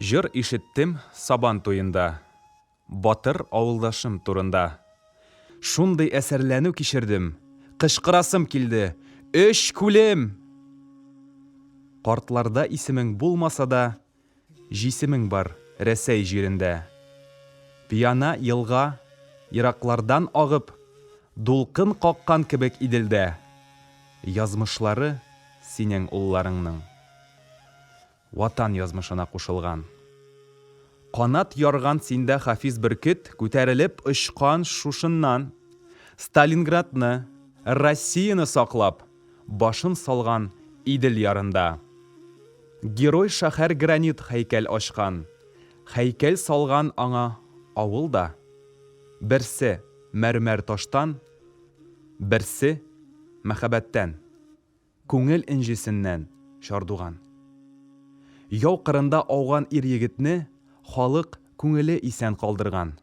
Җыр ишеттем Сабан туенда, Батыр авылдашым турында. Шундый әсәрләнү кичердем, Кычкырасым килде, Өч күлем! Картларда исемең булмаса да, Җисемең бар Рәсәй җирендә. Пиана елга, ераклардан агып, Дулкын каккан кебек Иделдә. Язмышлары синең улларыңның. Ватан язмышына кушылган. Канат ярган синдә хафиз бөркет Күтәрелеп очкан шушыннан. Сталинградны, Россияне саклап. башын салган Идел ярында. Герой шәһәр гранит һәйкәл ачкан, һәйкәл салган аңа авыл да. Берсе, мәрмәр таштан, берсе, мәхәббәттән, күңел энҗесеннән чардуган. Яу кырында ауган ир-егетне халык күңеле исән калдырган.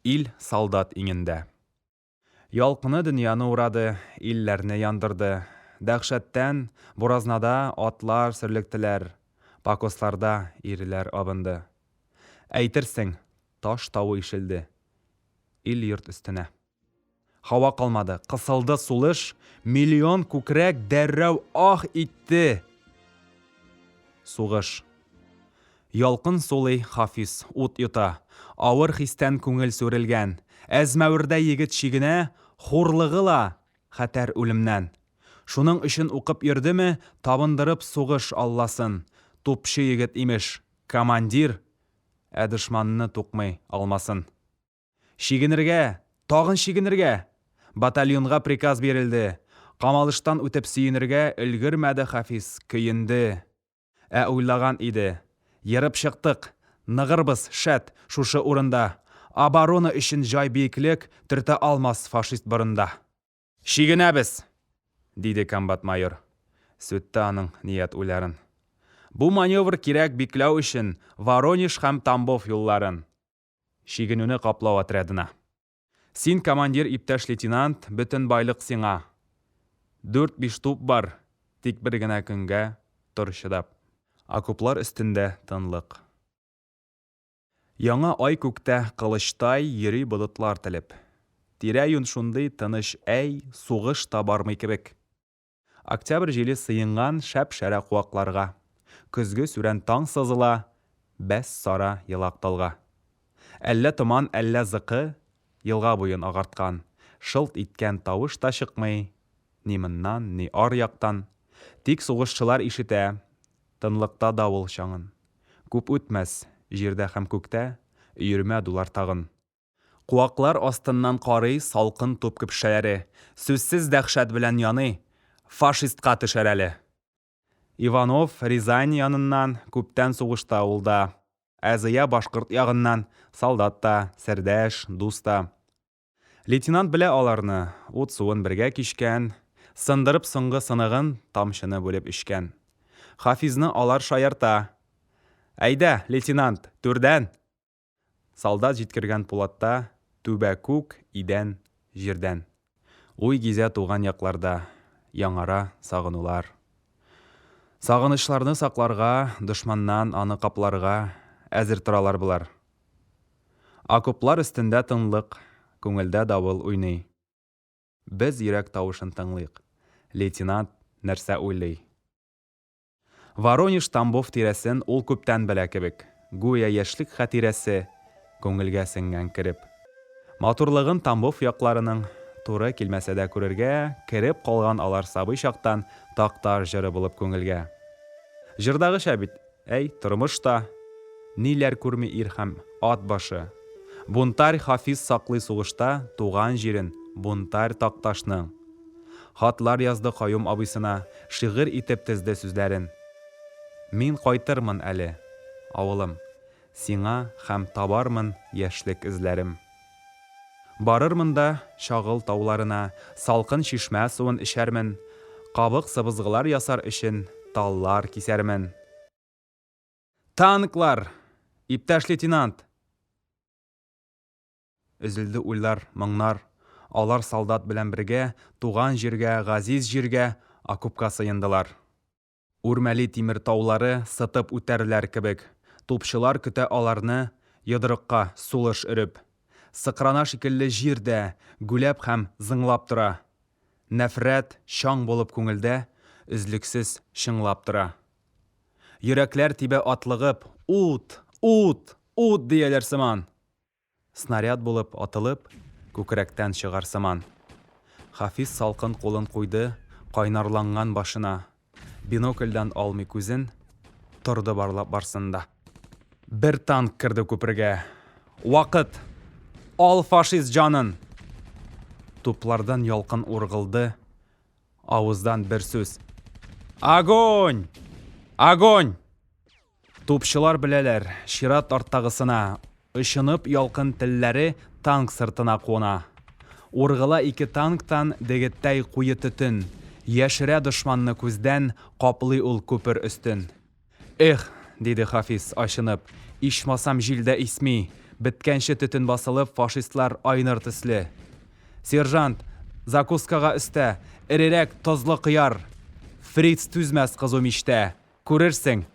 Ил солдат иңендә. Ялкыны дөньяны урады, илләрне яндырды. Дәһшәттән, буразнада атлар сөрлектеләр, покосларда ирләр абынды. Әйтерсең, таш тавы ишелде ил-йорт өстенә. Һава калмады, кысылды сулыш, миллион күкрәк дәррәү аһ итте. Сугыш. Ялкын сулый Хафиз, ут йота. Авыр хистән күңел сүрелгән. Әзмәвердә егет чигенә, Хурлыгы ла, хәтәр үлемнән. Шуның өчен укып йөрдеме, Табындырып сугыш алласын? Тупчы егет, имеш, командир, Ә дошманны тукмый алмасын. Чигенергә, тагын чигенергә! Батальонга приказ бирелде. Камалыштан үтеп сөенергә Өлгермәде Хафиз, көенде. Ә уйлаган иде. Ерып чыктык. Ныгырбыз, шәт, шушы урында. Оборона өчен җай биеклек, төртә алмас фашист борында. Чигенәбез! диде комбат майор. Сүтте аның ният уйларын. Бу маневр кирәк бикләү өчен Воронеж һәм Тамбов юлларын. Чигенүне каплау отрядына. Син командир иптәш лейтенант, бөтен байлык сиңа. Дүрт-биш туп бар, тик бер генә көнгә тор чыдап. Окоплар өстендә тынлык. Яңа ай күктә кылычтай йөри болытлар телеп. Тирә-юн шундый тыныч әй, сугыш та бармый кебек. Октябрь җиле сыенган шәп-шәрә куакларга, Көзге сүрән таң сызыла, бәс, сара елак талга. Әллә томан, әллә зыкы елга буен агарткан, Шылт иткән тавыш та чыкмый ни моннан, ни ар яктан, Тик сугышчылар ишетә тынлыкта давыл чаңын. Күп үтмәс, җирдә һәм күктә өермә дулар тагын. Куаклар астыннан карый салкын туп көпшәләре, сүзсез дәһшәт белән яный, Фашистка төшәр әле! Иванов, Рязань яныннан, күптән сугышта ул да. Ә Зыя башкорт ягыннан, солдат та, сердәш, дус та. Лейтенант белә аларны, ут-суын бергә кичкән, сындырып соңгы сыныгын, тамчыны бүлеп эчкән. Хафизны алар шаярта. Әйдә, лейтенант, түрдән! Солдат җиткергән пулатта Түбә күк, идән, җирдән. Уй гизә туган якларда, Яңара сагынулар. Сагынычларны сакларга, Дошманнан аны капларга Әзер торалар болар. Окоплар өстендә тынлык, Күңелдә давыл уйный. Без йөрәк тавышын тыңлыйк, Лейтенант нәрсә уйлый. Воронеж, Тамбов тирәсен ул күптән белә кебек, гүя яшьлек хатирәсе күңелгә сеңгән кереп. Матурлыгын Тамбов якларының, туры килмәсә дә күрергә, кереп калган алар сабый чактан Такташ җыры булып күңелгә. Җырдагыча бит, әй, тормыш та, Ниләр күрми ир һәм ат башы. Бунтарь Хафиз саклый сугышта Туган җирен, бунтарь Такташның. Хатлар язды Каюм абыйсына, Шигырь итеп тезде сүзләрен. Мин кайтырмын әле, авылым, Сиңа һәм табармын яшьлек эзләрем. Барырмын да Чагыл тауларына, Салкын чишмә суын эчәрмен, Кабык-сыбызгылар ясар өчен Таллар кисәрмен. Танклар! Иптәш лейтенант! Өзелде уйлар, моңнар. Алар солдат белән бергә Туган җиргә, газиз җиргә, Окопка сыендылар. Үрмәли тимер таулары Сытып үтәрләр кебек, Тупчылар көтә аларны Йодрыкка, сулыш өреп. Сыкрана шикелле җир дә Гүләп һәм зыңлап тора. Нәфрәт, чаң булып күңелдә Өзлексез чыңлап тора. Йөрәкләр тибә атлыгып, Ут! Ут! Ут! дияләр сыман. Снаряд булып атылып, күкрәктән чыгар сыман. Хафиз салкын кулын куйды кайнарланган башына, бинокльдән алмый күзен, торды барлап барсын да. Бер танк керде күпергә. Вакыт! Ал фашист җанын! Туплардан ялкын ургылды, авыздан бер сүз. Огонь! Огонь! Тупчылар беләләр, чират арттагысына. Очынып ялкын телләре танк сыртына куна. Ургыла ике танктан дегеттәй куе төтен, яшерә дошманны күздән, каплый ул күпер өстен. Эх! диде Хафиз, ачынып, ичмасам җил дә исми, беткәнче төтен басылып, фашистлар айныр төсле. Сержант, закускага өстә, эрерәк тозлы кыяр! Фриц түзмәс кызу мичтә! Күрерсең,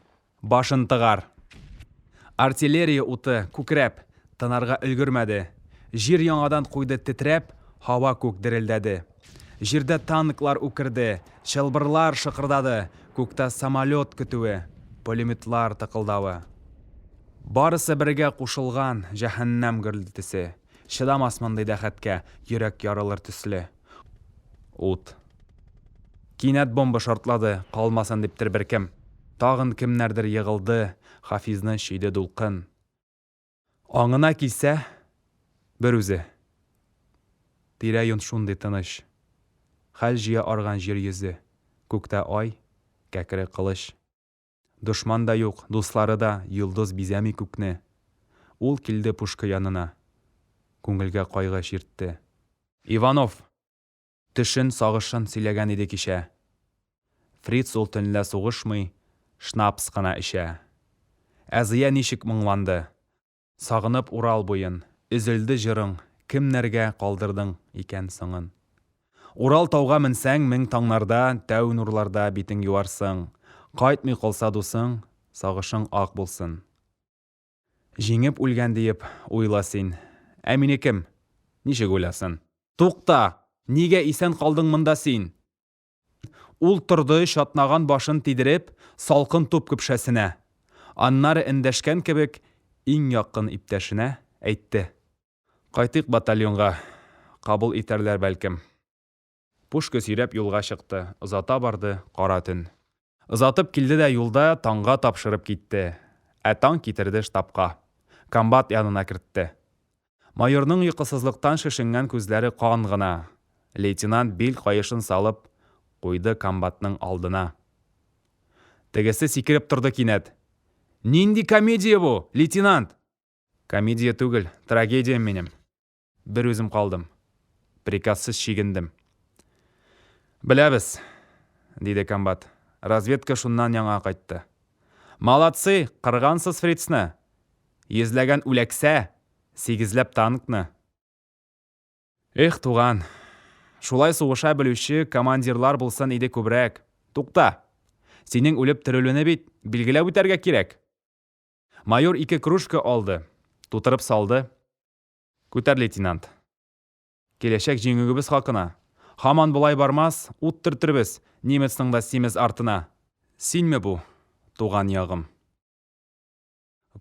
башын тыгар. Артиллерия уты, күкрәп, тынарга өлгермәде. Җир яңадан куйды тетрәп, һава-күк дерелдәде. Җирдә танклар үкерде, чылбырлар шыкырдады, күктә самолет көтүе, пулеметлар тыкылдавы. Барысы бергә кушылган җәһәннәм гөрлтесе, чыдамас мондый дәхәткә йөрәк ярылыр төсле. Ут. Кинәт бомба шартлады, калмасын диптер беркем. Тагын кемнәрдер егылды, Хафизны чөйде дулкын. Аңына килсә, бер үзе. Тирә-юнь шундый тыныч. Хәл җыя арган җир йөзе, Күктә ай, кәкре кылыч. Дошман да юк, дуслары да, Йолдыз бизәми күкне. Ул килде пушка янына, Күңелгә кайгы чиртте. Иванов! Төшен, сагышын Сөйләгән иде кичә. Фриц ул төнлә сугышмый, Шнапс кына эчә. Ә Зыя ничек моңланды! Сагынып Урал буен, Өзелде җырың, Кемнәргә калдырдың икән соңын. Урал тауга менсәң, Мең таңнарда, Тәү нурларда Битең юарсың. Кайтмый калса дусың, Сагышың ак булсын. Җиңеп үлгән диеп уйла син, Ә мине кем, ничек уйласын? Тукта! Нигә исән калдың монда син? Ул торды, чатнаган башын тидереп, салкын туп көпшәсенә. Аннары эндәшкән кебек, иң якын иптәшенә, әйтте. Кайтыйк батальонга. Кабул итәрләр, бәлкем. Пушка сөйрәп юлга чыкты. Озата барды, кара төн. Озатып килде дә юлда таңга тапшырып китте. Ә таң китерде штабка. Комбат янына кертте. Майорның йокысызлыктан шешенгән күзләре кан гына. Лейтенант бил каешын салып куйды комбатның алдына. Тегесе сикереп торды кинәт. Нинди комедия бу, лейтенант? Комедия түгел, трагедия минем. Бер үзем калдым. Приказсыз чигендем. Беләбез, диде комбат. Разведка шуннан яңа кайтты. Молодцы, кыргансыз фрицны! Йөзләгән үләксә, сигезләп танкны. Эх, туган, шулай сугыша белүче командирлар булсын иде күбрәк. Тукта! Синең үлеп терелүне бит билгеләп үтәргә кирәк! Майор ике кружка алды, тутырып салды. Күтәр, лейтенант. Киләчәк җиңүгебез хакына. Һаман болай бармас, ут төртербез немецның да симез артына. Синме бу, туган ягым?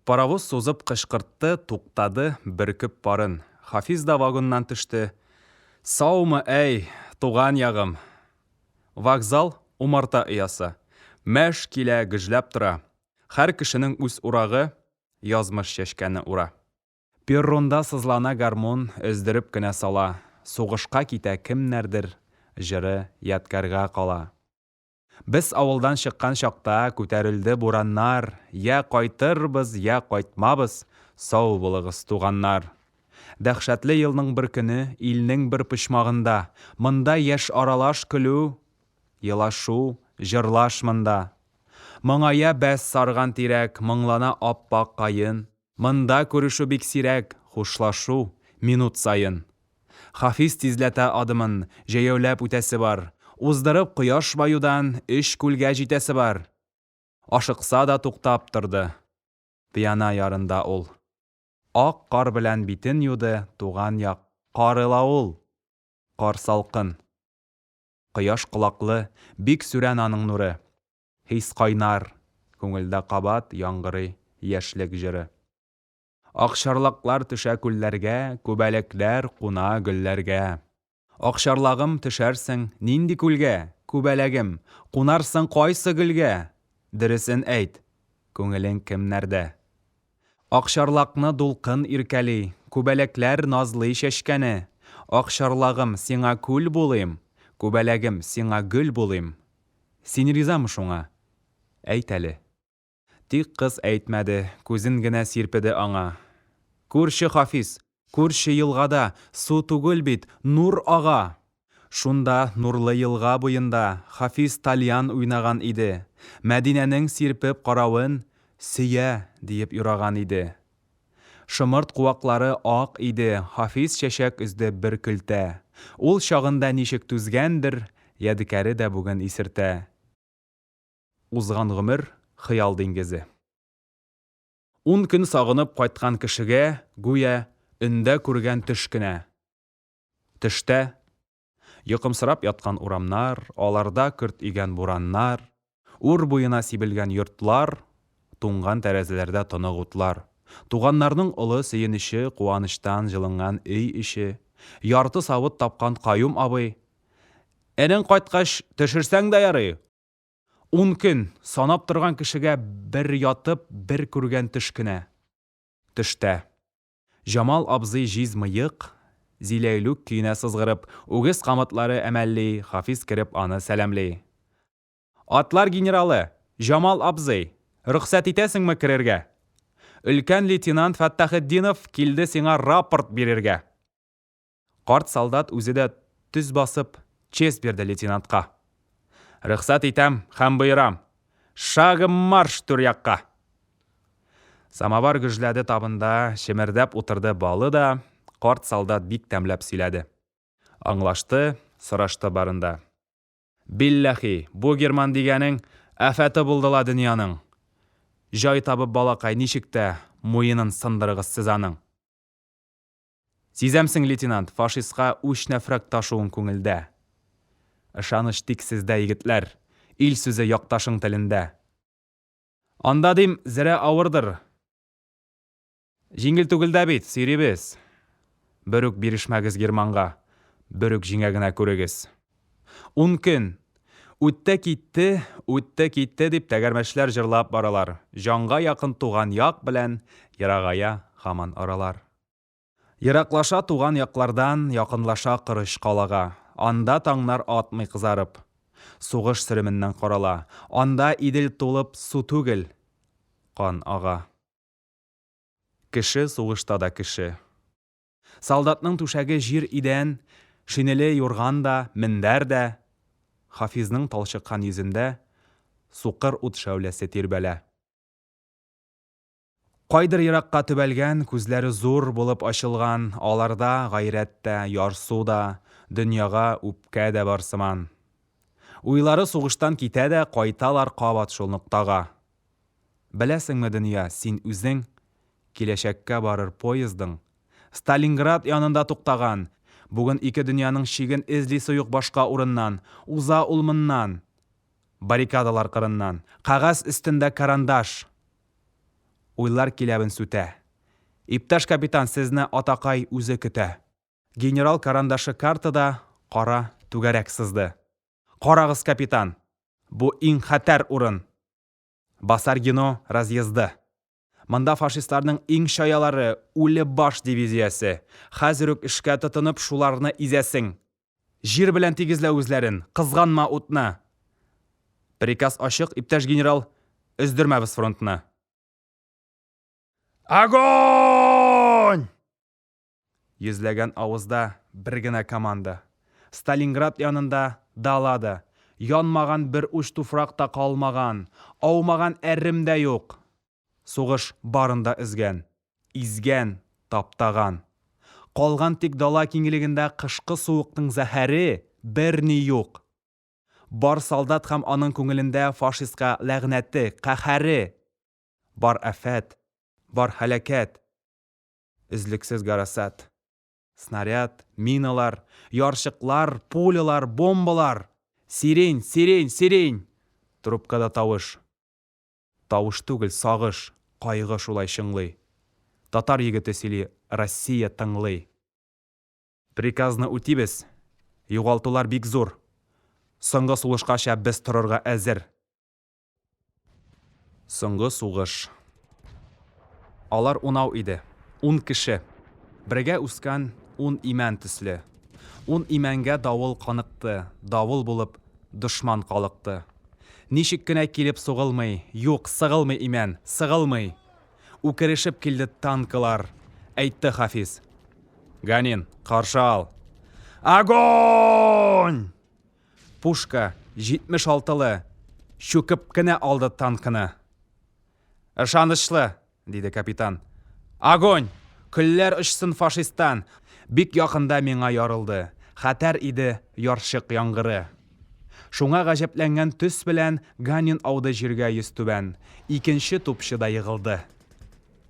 Паровоз сузып кычкыртты, туктады, бөркеп парын. Хафиз да вагоннан төште. Саумы, әй, туган ягым! Вокзал, умарта оясы. Мәш килә, гөжләп тора. Һәр кешенең үз урагы, язмыш чәчкәне ура. Перронда сызлана гармун, Өздереп кенә сала. Сугышка китә кемнәрдер, Җыры ядкарьга кала. Без авылдан чыккан чакта Күтәрелде бураннар, Йә кайтырбыз, йә кайтмабыз, Сау булыгыз, туганнар. Дәһшәтле елның бер көне Илнең бер почмагында, Монда яшь аралаш көлү, Елашу, җырлаш монда. Моңая бәс сарган тирәк, Моңлана ап-ак каен. Монда күрешү бик сирәк, хушлашу, минут саен. Хафиз тизләтә адымын, җәяүләп үтәсе бар. Уздырып кояш баюдан өч күлгә җитәсе бар. Ашыкса да туктап торды. Пиана ярында ул. Ак кар белән битен юды Туган як кары ла ул! Кар салкын. Кояш колаклы, бик сүрән аның нуры. Хис кайнар, күңелдә кабат яңгырый яшьлек җыры. Акчарлаклар төшә күлләргә, күбәләкләр куна гөлләргә. Акчарлагым, төшәрсең нинди күлгә, күбәләгем, кунарсың кайсы гөлгә? Дөресен әйт, күңелең кемнәрдә? Акчарлакны дулкын иркәли, Күбәләкләр назлый чәчкәне. Акчарлагым, сиңа күл булыйм, Күбәләгем, сиңа гөл булыйм. Син ризамы шуңа? Әйт әле. Тик кыз әйтмәде, күзен генә сирпеде аңа. Күрче Хафиз, Күрше елгада су түгел бит, нур ага! Шунда, нурлы елга буенда, Хафиз тальян уйнаган иде. Мәдинәнең сирпеп каравын Сөя! диеп юраган иде. Шомырт куаклары ак иде, Хафиз чәчәк өзде бер көлтә. Ул чагында ничек түзгәндер, ядекаре дә бүген исертә. Узган гомер, хыял диңгезе. Ун көн сагынып кайткан кешегә, гүя, өндә күргән төш кенә. Төштә, йокымсырап яткан урамнар, аларда көрт игән бураннар, үр буена сибелгән йортлар, туңган тәрәзәләрдә тонык утлар, туганнарның олы сөенече, куанычтан җылынган өй эче, ярты савыт тапкан Каюм абый, Энең кайткач, төшерсәң дә ярый! Ун көн, санап торган кешегә бер ятып, бер күргән төш кенә. Төштә. Җамал абзый җиз мыек, зиләйлүк көенә сызгырып, үгез камытлары әмәлли, Хафиз кереп аны сәламли. Атлар генералы! Җамал абзый! Рөхсәт итәсеңме керергә? Өлкән лейтенант Фәттахетдинов килде сиңа рапорт бирергә! Карт солдат үзе дә төз басып, честь бирде лейтенантка. Рөхсәт итәм һәм боерам! Шагом марш түр якка! Самовар гөжләде табында, чемердәп утырды балы да, карт солдат бик тәмләп сөйләде. Аңлашты, сорашты барын да. Билләхи, бу герман дигәнең афәте булды ла дөньяның! Җай табып балакай, ничек тә муенын сындырыгыз сез аның! Сизәмсең, лейтенант, фашистка үч нәфрәк ташуын күңелдә. Ышаныч тик сездә, егетләр, ил сүзе якташың телендә. Анда, дим, зрә авырдыр. Җиңел түгел дә бит, сөйрибез. Берүк бирешмәгез германга, берүк җиңә генә күрегез. Ун көн. Үтте, китте, үтте, китте, дип тәгәрмәчләр җырлап баралар. Җанга якын туган як белән ерагая һаман аралар. Ераклаша туган яклардан, Якынлаша корыч калага. Анда таңнар атмый кызарып, Сугыш сөременнән карала. Анда Идел тулып су түгел, Кан ага. Кеше сугышта да кеше. Солдатның түшәге җир идән, Шинеле юрган да, мендәр дә. Хафизның талчыккан йөзендә Сукыр ут шәүләсе тирбәлә. Кайдыр еракка төбәлгән, күзләре зур булып ачылган, аларда гайрәт тә, ярсу да, дөньяга үпкә дә бар сыман. Уйлары сугыштан китә дә, кайталар кабат шул ноктага. Беләсеңме, дөнья, син үзең, киләчәккә барыр поездың Сталинград янында туктаган, бүген ике дөньяның чиген эзли суюк башка урыннан, уза ул моннан, Баррикадалар кырыннан. Кәгазь өстендә карандаш. Уйлар киләвен сүтә. Иптәш капитан, сезне атакай үзе көтә. Генерал карандашы картада кара түгәрәк сызды. Карагыз, капитан! Бу иң хәтәр урын! Басар Гено разъезды. Монда фашистларның иң чаялары, үле баш дивизиясе. Хәзер үк эшкә тотынып, шуларны изәсең. Җир белән тигезлә үзләрен, кызганма утны! Приказ ачык, иптәш генерал, өздермәбез фронтны. Огонь! Йөзләгән авызда бер генә команда. Сталинград янында дала да, янмаган бер уч туфрак та калмаган, аумаган әрем дә юк. Сугыш барын да өзгән, изгән, таптаган. Калган тик дала киңлегендә кышкы суыкның зәһәре, берни юк. Бар солдат һәм аның күңелендә фашистка ләгънәте, каһәре. Бар афәт, бар һәлакәт. Өзлексез гарасат. Снаряд, миналар, ярчыклар, пулялар, бомбалар! Сирень, сирень, сирень! Трубкада тавыш. Тавыш түгел, сагыш, кайгы шулай чыңлый. Татар егете сөйли, Россия тыңлый. Приказны үтибез. Югалтулар бик зур. Соңгы сулышкача без торырга әзер. Соңгы сугыш. Алар унау иде. Ун кеше. Бергә үскән ун имән төсле. Ун имәнгә давыл каныкты, давыл булып дошман калыкты. Ничек кенә килеп сугылмый, юк, сыгылмый имән, сыгылмый! Үкерешеп килде танкылар. Әйтте Хафиз. Ганин, каршы ал! Огонь! Пушка, 76 лы, чүкеп кенә алды танкны. Ышанычлы, диде капитан. Огонь! Көлләр очсын фашистан! Бик якында миңа ярылды. Хәтәр иде ярчык яңгыры. Шуңа гаҗәпләнгән төс белән Ганин ауды җиргә йөзтүбән. Икенче тупчы да егылды.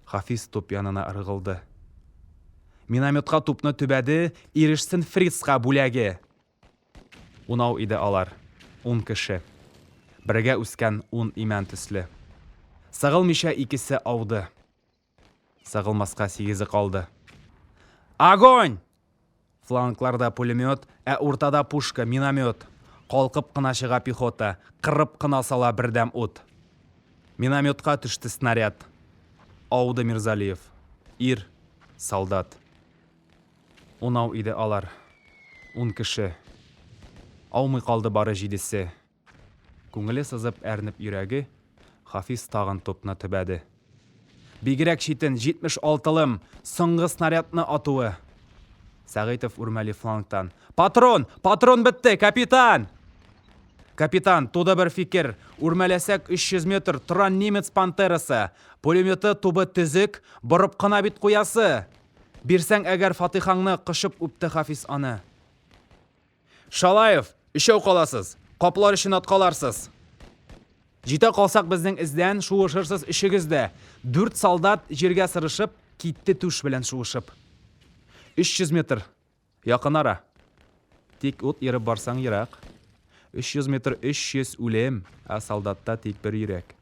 Хафиз туп янына ыргылды. Минометка тупны төбәде, ирешсен фрицка бүләге! Унау иде алар, ун кеше. Бергә үскән ун имән төсле. Сыгылмыйча икесе ауды. Сыгылмаска сигезе калды. Огонь! Флангларда пулемет, ә уртада пушка, миномет. Калкып кына чыга пехота, кырып кына сала бердәм ут. Минометка төште снаряд. Ауды Мирзалиев. Ир, солдат. Унау иде алар. Ун кеше. Аумый калды бары җидесе. Күңеле сызып, әрнеп йөрәге, Хафиз тагын тупны төбәде. Бигрәк читен, җитмеш алтылым, соңгы снарядны атуы! Сәгыйтов үрмәли флангтан. Патрон! Патрон бетте, капитан! Капитан, туды бер фикер. Үрмәләсәк, 300 метр, торан немец пантерасы. Пулеметы тубы төзек, борып кына бит куясы! Бирсәң әгәр фатыйхаңны, кочып үпте Хафиз аны. Шалаев, өчәү каласыз. Каплар өчен аткаларсыз. Җитә калсак безнең эздән, шуышырсыз өчегез дә. Дүрт солдат, җиргә сырышып, китте түш белән шуышып. 300 метр. Якын ара. Тик ут ерып барсаң ерак. Өч йөз метр өч йөз үлем, ә солдатта тик бер йөрәк.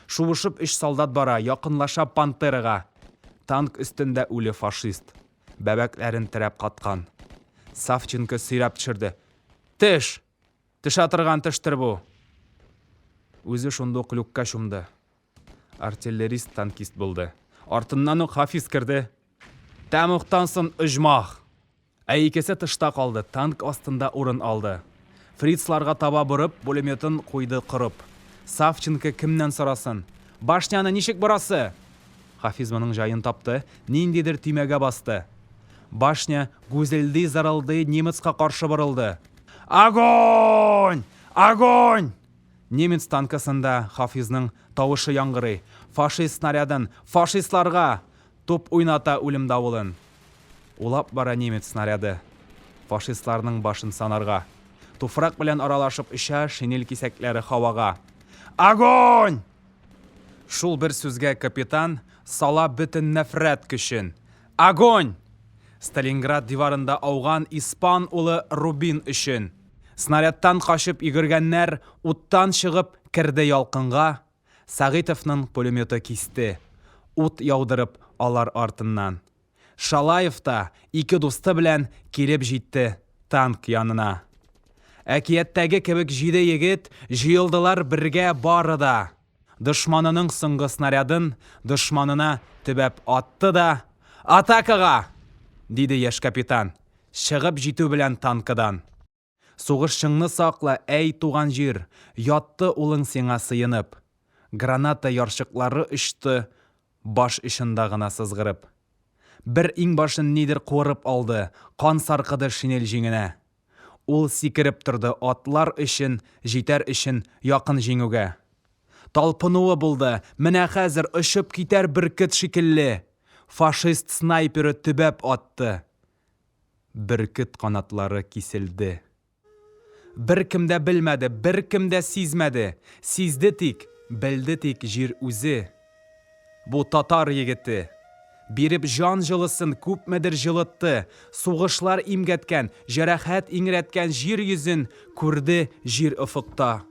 Шуышып өч солдат бара, якынлаша Пантерага. Танк өстендә үле фашист. Бәбәкләрен терәп каткан. Савченко сөйрәп төшерде. Теш! Төшә торган тештер бу! Үзе шундук люкка чумды. Артиллерист танкист булды. Артыннан ук Хафиз керде. Тәмуктан сон Оҗмах. Ә икесе тышта калды, танк астында урын алды. Фрицларга таба борып, пулеметын куйды корып. Савченко кемнән сорасын? Башняны ничек борасы? Хафиз моның җаен тапты, ниндидер төймәгә басты. Башня гүзелди-зырылдый немецка каршы борылды. Огонь! Огонь! Немец танкысында Хафизның тавышы яңгырый, Фашист снарядын, фашистларга! Туп уйната үлем давылын. Улап бара немец снаряды, Фашистларның башын санарга. Туфрак белән аралашып оча шинель кисәкләре һавага. Огонь! Шул бер сүзгә капитан сала бөтен нәфрәт көчен. Огонь! Сталинград диварында ауган испан улы Рубин өчен! Снарядтан качып йөгергәннәр уттан чыгып керде ялкынга, Сәгыйтовның пулеметы кисте, ут яудырып алар артыннан. Шалаев та ике дусты белән килеп җитте танк янына. Әкияттәге кебек җиде егет җыелдылар бергә бары да. Дошманының соңгы снарядын дошманына төбәп атты да, Атакага! диде яшь капитан, чыгып җитү белән танкыдан. Сугышчыңны сакла, әй, туган җир, ятты улың сиңа сыенып. Граната ярчыклары очты баш очында гына сызгырып. Бер иңбашын нидер куырып алды, кан саркыды шинель җиңенә. Ул сикереп торды атлар өчен, җитәр өчен якын җиңүгә. Талпынуы булды, менә хәзер очып китәр бөркет шикелле! Фашист снайперы төбәп атты. Бөркет канатлары киселде. Беркем дә белмәде, беркем дә сизмәде. Сизде тик, белде тик җир үзе. Бу татар егете. Биреп җан җылысын күпмедер җылытты, сугышлар имгәткән, җәрәхәт иңрәткән җир йөзен күрде Җир офыкта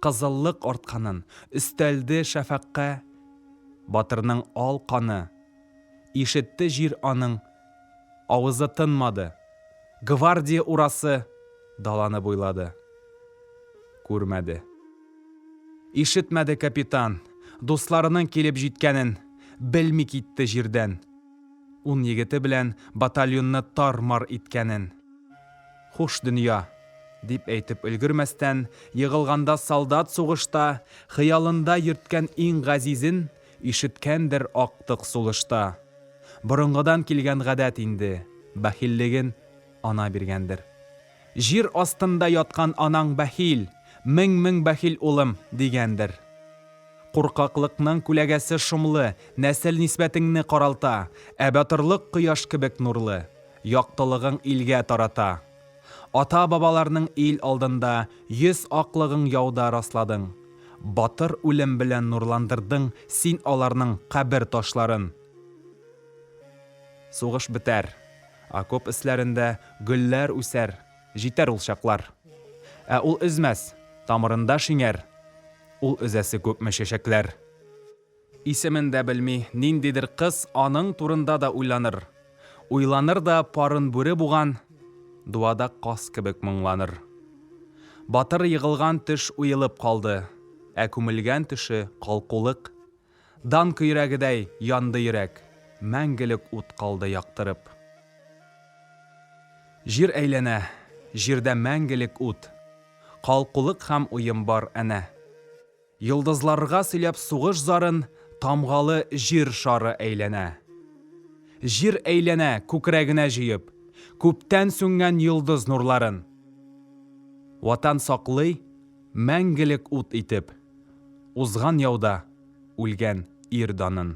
кызыллык артканын, өстәлде шәфәкъкә Батырның ал каны Ишетте җир аның Авызы тынмады. Гвардия урасы даланы буйлады. Күрмәде. Ишетмәде капитан, дусларының килеп җиткәнен белми китте җирдән, ун егете белән батальонны тар-мар иткәнен. Хуш дөнья! дип әйтеп өлгермәстән, егылганда солдат сугышта хыялында йөрткән иң газизен Ишеткәндер актык сулышта. Борынгыдан килгән гадәт инде, бәхиллеген Ана биргәндер. Җир астында яткан анаң бәхил, мең-мең бәхил улым, дигәндер. Куркаклыкның күләгәсе шомлы, нәсел нисбәтеңне каралта, ә батырлык кояш кебек нурлы, яктылыгың илгә тарата. Ата-бабаларның ил алдында Йөз аклыгың яуда расладың. Батыр үлем белән нурландырдың Син аларның кабер ташларын. Сугыш бетәр. Окоп өсләрендә Гөлләр үсәр. Җитәр ул чаклар. Ә ул өзмәс, тамырында шиңәр, Ул өзәсе күпме чәчәкләр. Исемен дә белми ниндидер кыз аның турында да уйланыр. Уйланыр да парын бүре буган дуада каз кебек моңланыр. Батыр егылган төш уелып калды, ә күмелгән төше калкулык. Дан көйрәгедәй янды йөрәк, мәңгелек ут калды яктырып. Җир әйләнә, җирдә мәңгелек ут. Калкулык һәм уем бар әнә. Йолдызларга сөйләп сугыш зарын Тамгалы җир шары әйләнә. Җир әйләнә, күкрәгенә җыеп, Күптән сүнгән йолдыз нурларын. Ватан саклый, мәңгелек ут итеп, Узган яуда үлгән ир данын.